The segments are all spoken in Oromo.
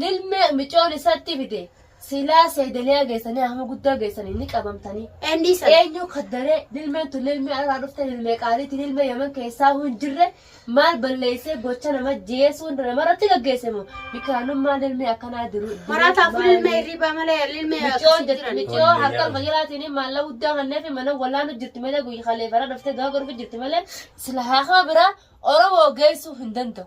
Lilme micoon isatti fide silaa seedaliyaa geessanii hama guddaa geessanii ni qabamtanii. Endii sana. Eenyu kaddaree lilmeen tun lilmee alaa dhufte lilmee qaaliiti lilmee yaman keessaa hin jirre maal balleessee gocha nama jeesuun namarratti gaggeesse moo bikaanummaa lilmee akkanaa diru. Maraataa fi lilmee hirribaa malee lilmee Micoon akkasii jirti jiran. micoo Tolli harka jedhama. majalaatiin maalla guddaa kannee fi mana wallaanu jirti malee guyya kaleefara dhuftee gaafa dhufu jirti malee sila haakama biraa Oromoo geessuu hin danda'u.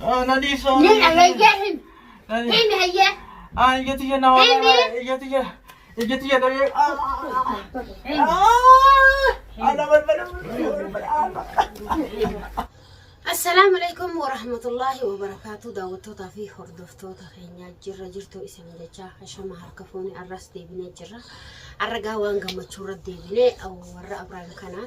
Anani so. Ni ayayya him. Him hayya. Ah, iya tiya na. Ini. Iya tiya. Iya tiya dari. Ah. Ana berbeda. Assalaamu alaikum warahmatullaahi wabarakaatu daawwattootaa fi hordoftoota keenyaa jirra jirtuu isin jechaa hashama harka fuunee arras deebinee jirra arragaa waan gammachuurra deebinee warra abrahaam kanaa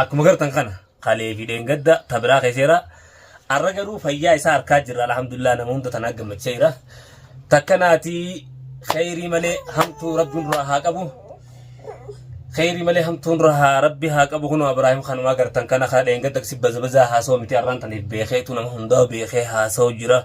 Akkuma gartan kana kalee fi dheengadda ta biraa keeseera. Arra garuu fayyaa isaa harkaa jirra alhamdulillah nama hunda tanaa gammachaa jira. Takka naatii kheyrii malee hamtuu rabbiin duraa haa qabu. Kheyrii malee hamtuun rahaa rabbi haa qabu kunoo Abiraahim kanumaa gartan kana kaa dheengadda si baza bazaa haasoo miti arraan taniif beekeetu nama hundaa beekee haasoo jira.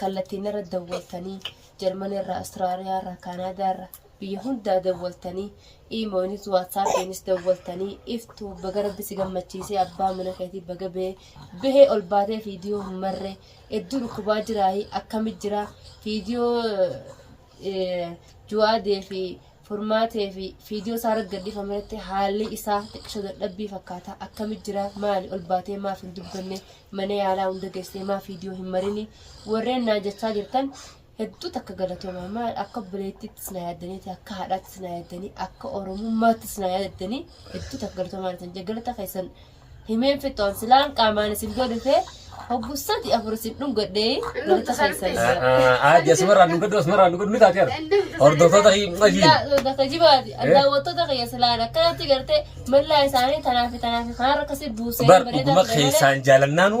Kallattiin irra dawwaltanii Jarman irraa, Austraaliyaa irraa, Kaanaadaa irraa biyya hundaa dawwaltanii iimoonis waatsaappiinis dawwaltanii iftuu baga rabbi si gammachiisee abbaa mana keetii baga bee bahee ol baatee fiidiyoo hin marree hedduu dhukkubaa jiraayii akkami jira fiidiyoo juwaadee fi furmaatee fi fiidiyoo isaa irratti gadhiifame irratti haalli isaa xiqqisho dadhabbii fakkaata akkami jira maali ol baatee maaf hin dubbanne mana yaalaa hunda geessee maaf fiidiyoo hin marini warreen naan jechaa jirtan hedduu takka galatooma maal akka obboleettiittis na yaaddaniiti akka haadhaattis na yaaddanii akka oromummaattis na yaaddanii hedduu takka galatoomaa dhatan jaggalata keessan himeen fixoon silaan qaamaan isin bira dhufee hoggu sadi afur isin dhungadhee walitti keessan. Aadde asumarraa nu gaddu asumarraa nu gaddu ni taate har'a. Hordoftoota himmatiin. Bakka jibaati daawwattoota kiyya silaan akkanatti gartee mallaa isaanii tanaa fi tanaa fi kanarra akkasii buusee Bar dhuguma keessaan jaalannaanu.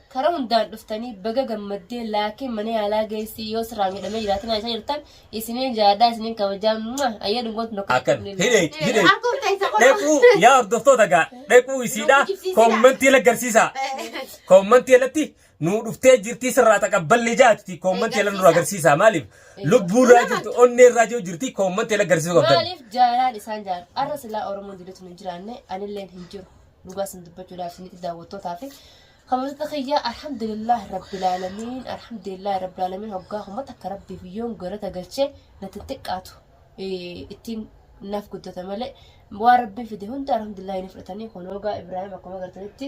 Kara hundaan dhuftanii baga gammaddee laakiin mana yaalaa geessii yoo sirraa miidhamee jiraate na isa jirtan isiniin jaadhaa isiniin kabajaa mwah! ayyee dhungoon tokko Akkan hidheeti hidheeti. Harkuun teessa godhu. Dhaquu yaa hordoftoota gaa dhaquu isiidhaa koommantii irra agarsiisaa. Koommantii irratti nuu dhuftee jirtii sirraa taqabballee jaatiti koommantii irra nurra agarsiisaa maaliif lubbuu irraa jirti onnee irraa jiru jirti koommantii irra agarsiisuu qabdan. maaliif jaalaan isaan jaal arra silaa oromoon jirutu hin jiraanne anilleen hin jiru dhugaa isin dubbachuudhaaf isinitti daawwattootaa fi Kabajota kiyya alhamdulillah rabbil alamin alhamdulillah rabbil alamin hoggaa kuma takka rabbiif yoon galata galche natti hin xiqqaatu Eh, ittiin naaf guddata malee waan rabbiin fide hunda alhamdulillah ni fudhatanii kun hoggaa Ibraahim akkuma agartanitti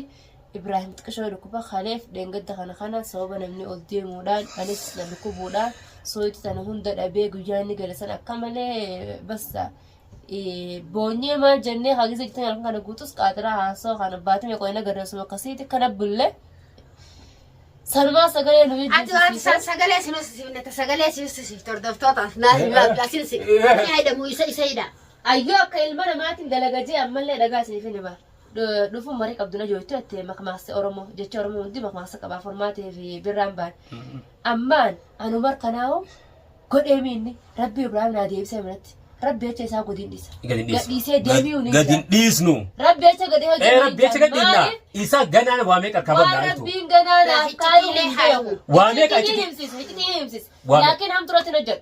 Ibraahim xiqqishoo dhukkuba kaleef dheengadda kana kana sababa namni ol deemuudhaan anis na dhukkubuudhaan sooyitti tana hunda dhabee guyyaa inni gale san akka malee basta boonyee maal jennee hagisa jirtan halkan kana guutus qaatiraa haasoo kana baatame qoyna garreessuma akkasiiti kana bulle sanumaa sagalee nu Ati waan san sagalee si hoosisifne ta sagalee si hoosisifte hordoftoota naa naa bilaasiin si ni haidhamu isa isa hidha. ayyoo akka ilma namaatiin dalagajee ammallee dhagaa isiniif hin hima dhufuun marii qabdu na jooytu jettee makmaasa oromoo jecha oromoo hundi makmaasa qabaa formaatee fi birraan baan Ammaan anu markanaa'u godhee miinni rabbi Ibraahim naa deebisee manatti rabbi jecha isaa godin dhisa. Gad hin dhiisnu. Gadhiisee deebi'u ni Gad hin jira. dhiisnu. Rabbi jecha gadhee hojii Ee rabbi jecha gadhiisna. Maaliif? Isa ganaan waa meeqa Waan qabannaa jechuudha. rabbiin ganaa naaf Iccitii kaayuu hin haa beeku. Waa meeqa Iccitii iccitii? himsisa, iccitii himsisa. Waa meeqa? Laakiin hamturatti hin hojjedhu.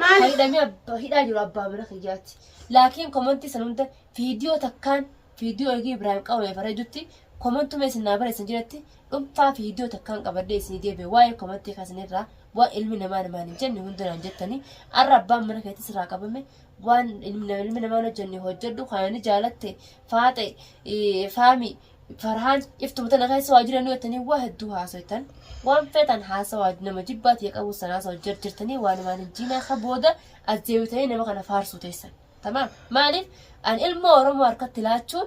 Maali? Kan hidhamee abba- hidhaa jiru abbaa mana kiyyaati. Laakiin komantii san hunda viidiyoo takkaan viidiyoo eegee Ibraahim qabame bareedutti komantuma isin naa barreessan jiratti dhuunfaa viidiyoo takkaan qabadhee isinii deebi'e waa'ee komantii kasanirraa waan ilmi namaa namaan hin jenne hunda naan jettanii arra abbaan mana keetti sirraa qabame waan ilmi nama- ilmi namaan hojjenne hojjedhu kanani jaalatte faaxe eh, faami Farhaan iftuma tana keessa waa jiranii jettanii waa hedduu haasoytan. Waan feetan haasawaa nama jibbaati yaa qabu san haasawa jirjirtanii waan waan hin jiinaa ka booda as deebitanii nama kana faarsuu teessan. Tamaam maaliif an ilma Oromoo harkatti laachuun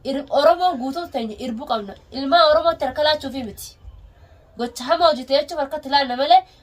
ir- Oromoo guutuu teenya irbuu qabna. Ilmaa Oromootti harka laachuufi miti. Gocha hamaa hojjete jechuuf harkatti laanna malee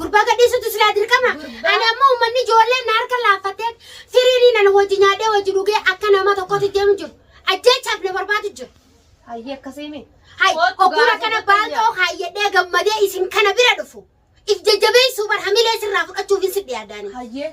Gurbaa gadhiisutu silaa dirqama. Gurbaa- Ani ammoo uummanni ijoolleen na harka laaffattee firiirii nana wajji nyaadhee wajji dhugee akka nama tokkotti deemu jiru. Ajjeechaaf na barbaadu jiru. Hayyee akkasii miti. Hay, Kootu ogguun gaafa akkana goota baantoo nyaata. kaayyadhee gammadee isin kana bira dhufu. If jajjabeessuu bar hamilee sirraa fudhachuuf hin sidhi yaadaani. Hayyee.